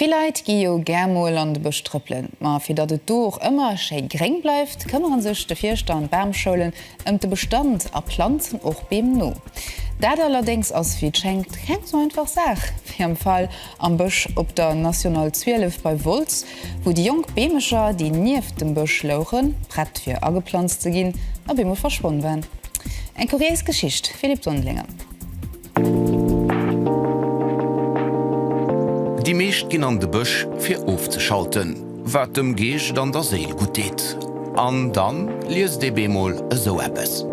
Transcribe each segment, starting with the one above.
Vill Leit gi jo gär mol an de Bësch trëppelen, ma fir datt et do och ëmmer schéi gréng bleift, këmmere sech de Fierschter an d'Bamschoulen ëm de Bestand a planzen och Beem no. Dat allerdéngs ass wéi et schéngt keng sou einfach Saach wéi am Fall am Bësch op der National 12 bei Wolz, wou déi jonk Beemecher, déi nieft dem Bësch louchen, prett fir ageplanzt ze ginn, op eemol verschwonn waren. Eng kuriéis Geschicht, Philippe Dondelinger. Déi meescht ginn an de Bësch fir ofzeschalten, wat dem Geescht an der Séil gutt deet. An dann liest ee bemol esou eppes.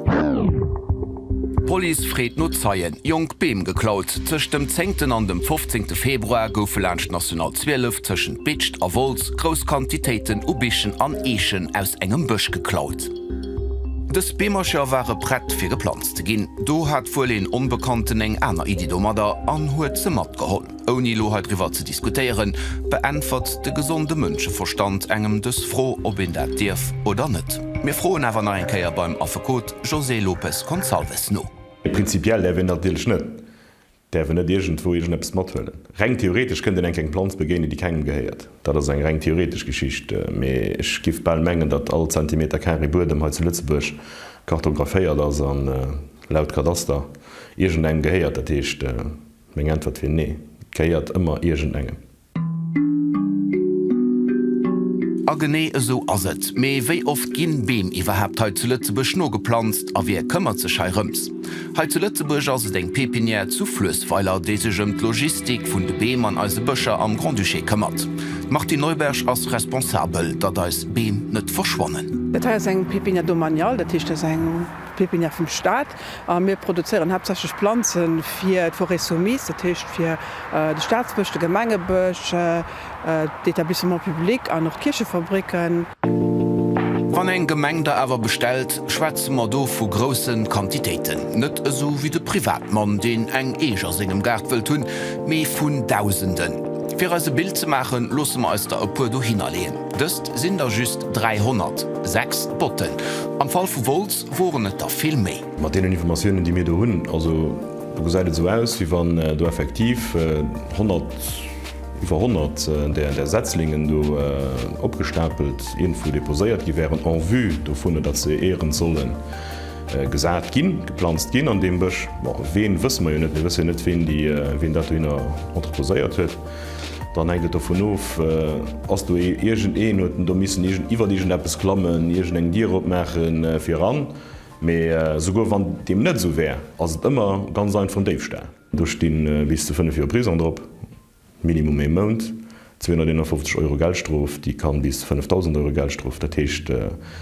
D'Police freet no Zeien, jonk Beem geklaut. Tëscht dem zéngten an dem fofzéngte Februar goufe laanscht d'National 12 tëschent Bitscht a Wolz grouss Quantitéiten u Bichen an Eechen aus engem Bësch geklaut. Dës Beemercher ware prett fir geplanzt. ze ginn. Do hat wuel een Onbekannten eng aner Iddi domadder an huet se matgeholl. Ouni elo heidriwwer ze diskutéieren, beäntwert de gesonde Mënscheverstand engem dës Fro, ob een dat dierf oder net. Mir froen awer nach eng Kéier beim Affekot José Lopes Gonçalves no. Prinzipiell däerf een dat natierlech net. Däerf en net iergendwou iergendeppes mathuelen? Reng theoretesch kënnt een enk eng Planz begéinen, déi kengem gehéiert. Dat ass eng reng theoretesch Geschicht, mee ech giff bal mengen, datt all Zentimeter carré Buedem hei zu Lëtzebuerg kartographéiert ass an, laut Kadaster, iergendengem gehéiert. Dat heescht, meng Äntwert wier nee, et gehéiert ëmmer iergendengem. A genee esou ass et. Mee wéi oft ginn Beem iwwerhaapt hei zu Lëtzebuerg nogeplanzt? A wie këmmert sech hei rëms? Hei zu Lëtzebuerg ass et eng Pépinière zu Fluessweiler, déi sech ëm d'Logistik vun de Beem an eise Bëscher am Grand-Duché këmmert. D'Martine Neuberg ass responsabel, datt eis Beem net verschwannen. Dat hei ass eng Pépinière domaniale, dat heescht, dat ass eng Pépinière vum Staat. A mir produzéieren haaptsächlech Planze fir d'Forêts soumises, dat heescht fir de Staatsbësch, de Gemengebësch, d'Etablissements publics an och d'Kierchefabricken. Wann eng Gemeng da awer bestellt, schwätze mer do vu grousse Quantitéiten. Net esou wéi de Privatmann, deen eng Eech a sengem Gaart wëllt hunn, mee vun Dausenden. Fir eis e Bild ze maachen, loosse mer eis der e puer dohinner leeën. Dëst sinn der just 300, sechs Botten am Fall vu Wolz. Woren et der vill méi? Mat deenen Informatiounen, déi mir do hunn, also do gesäit et esou aus, wéi wann do effektiv 100, iwwer 100 där Setzlingen do opgestapelt iergendwou deposéiert gi wären en vue dovun, datt se éierens solle gesat ginn, geplanzt ginn an deem Bësch. Bon, ween, wësse mer jo net. Mir wësse jo net, ween dat dohinner entreposéiert huet. Dann hänkt et dovun of, ass do iergend een, huet en do missen iwwert iergend eppes klammen, iergend eng Dier opmaachen fir eran. Mee souguer wann deem net esou wär, ass et ëmmer ganz einfach en Déifstall. Do sti bis zu 5 Joer Prisong drop, Minimum ee Mount, 251 Euro Geldstrof, déi ka bis 5.000 Euro Geldstrof, dat heescht,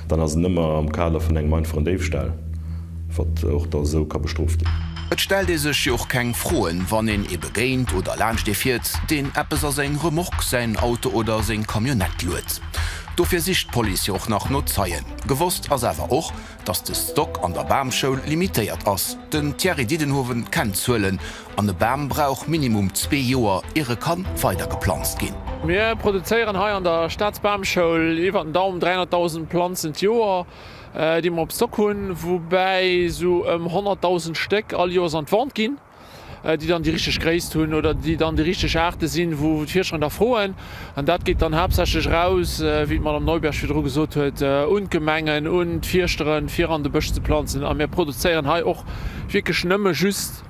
Dann ass en ëmmer am Kader vun engem einfachen Déifstahll, wat och da esou ka bestrooft ginn. Et stellt ee sech jo och keng Froen, wann een ee begéint oder laanscht ee fiert, deen eppes a seng Remorque, säin Auto oder seng Camionnette luet. Dofir sicht d'Police jo och nach no Zeien. Gewosst ass awer och, dass de Stock an der Bamschoul limitéiert ass. Den Thierry Didenhoven kennt d'Zuelen. An e Bam brauch minimum zwee Joer, ier e kann weider geplanzt ginn. Mir produzéieren hei an der Staatsbamschoul iwwer den Daum 300.000 Planzen d'Joer, déi mer op Stock hunn, woubäi esou ëm 100.000 Stéck all Joers an d'Vente ginn, déi dann déi richteg Gréisst hunn oder déi dann déi richteg Aarte sinn, wou d'Fierscher nach froen. An dat geet dann haaptsächlech eraus, wéi d'Madame Neuberg virdru gesot huet, un d'Gemengen, un d'Fierschteren, fir an de Bësch ze planzen. A mir produzéieren hei och wierklech nëmme just.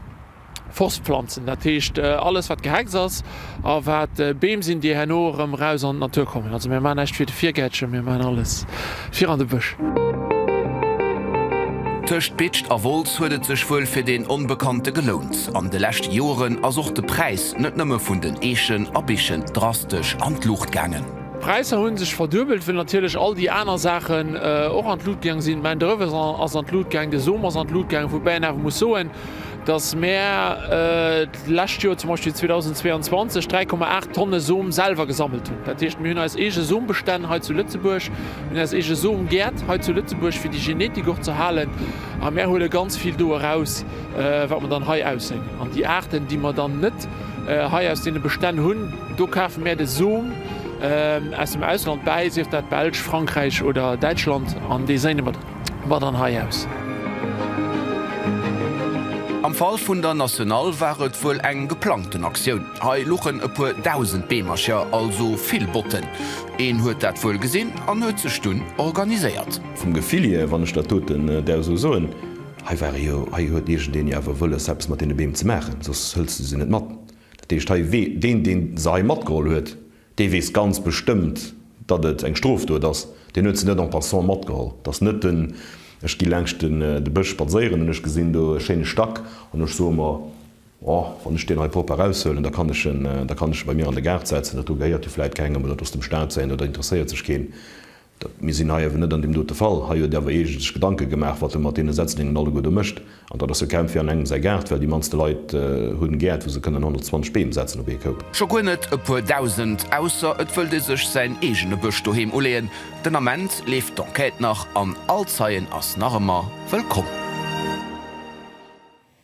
Forstpflanzen, dat heescht alles wat Gehecks ass a wat Beem sinn, déi herno erëm eraus an d'Natur kommen. Also mir maachen näischt fir de Virgäertchen, mir maachen alles fir an de Bësch. Tëscht Bitscht a Wolz huet et sech wuel fir deen Onbekannte gelount. An de leschte Joren ass och de Präis net nëmme vun den Eechen a Bichen drastesch an d'Luucht gaangen. D'Präisser hu sech verduebelt, well natierlech all déi aner Saachen och an d'Lut gaang sinn. D'Main d'oeuvre ass an d'Lut gaang, de Som ass an d'Lut gaangen, woubäi een awer muss soen, dass mär d'lescht Joer, zum Beispill 2022, 3,8 Tonne Som selwer gesammelt hunn. Dat heescht, mir hunn eis eege Sombestänn hei zu Lëtzebuerg, mir hunn eis eege Somgäert hei zu Lëtzebuerg, fir déi Genetik och ze halen, a mär huele ganz vill do eraus, wat mer dann hei ausséien. An déi Aarten, déi mer dann net hei aus deene Bestänn hunn, Do kafe mär de Som aus dem Ausland bäi, sief dat Belsch, Frankräich oder Däitschland, an dee séine mer mat an hei aus. Am Fall vun der Nationale war et wuel eng geplangten Aktioun. Hei luchen e puer dausend Beemercher, also vill Botten. Een huet dat wuel gesinn an huet sech dunn organiséiert. Vum Gefill hier, wann ech dat doten der esou soen, hei ware jo, hei huet iergendeen jo awer wëlles, eppes mat deene Beem ze maachen, soss hëls de se net mat. Dat heescht hei, wee deen, deen se hei matgeholl huet, dee weess ganz bestëmmt, datt et eng Strofdot ass. Deen huet se net en passant matgeholl. Dat ass net den, ech gi laanscht den, de Bësch spadséieren an ech gesinn do e schéine Stack an ech soe mer, oh, wann ech deen hei propper eraushuelen, da kann ech en, da kann ech e bei mir an de Gaart setzen, dat do gehéiert jo vläit kengem oder et ass dem Staat säin oder interesséiert sech keen. Dat, mir sinn hei awer net an deem dote Fall. Hei huet Der awer eege sech Gedanke gemaach, wat Der mat deene Setzlingen alleguer do mécht. An dat ass jo kaum fir an engem säi Gaart, well déi mannste Leit hunn Gäert, wou se kënnen 120 Beem setzen op ee Koup. Scho guer net e puer Dausend, ausser et wëllt ee sech säin eegene Bësch doheem uleeën. Den Ament leeft d'Enquête nach an all Zeien ass nach ëmmer wëllkomm.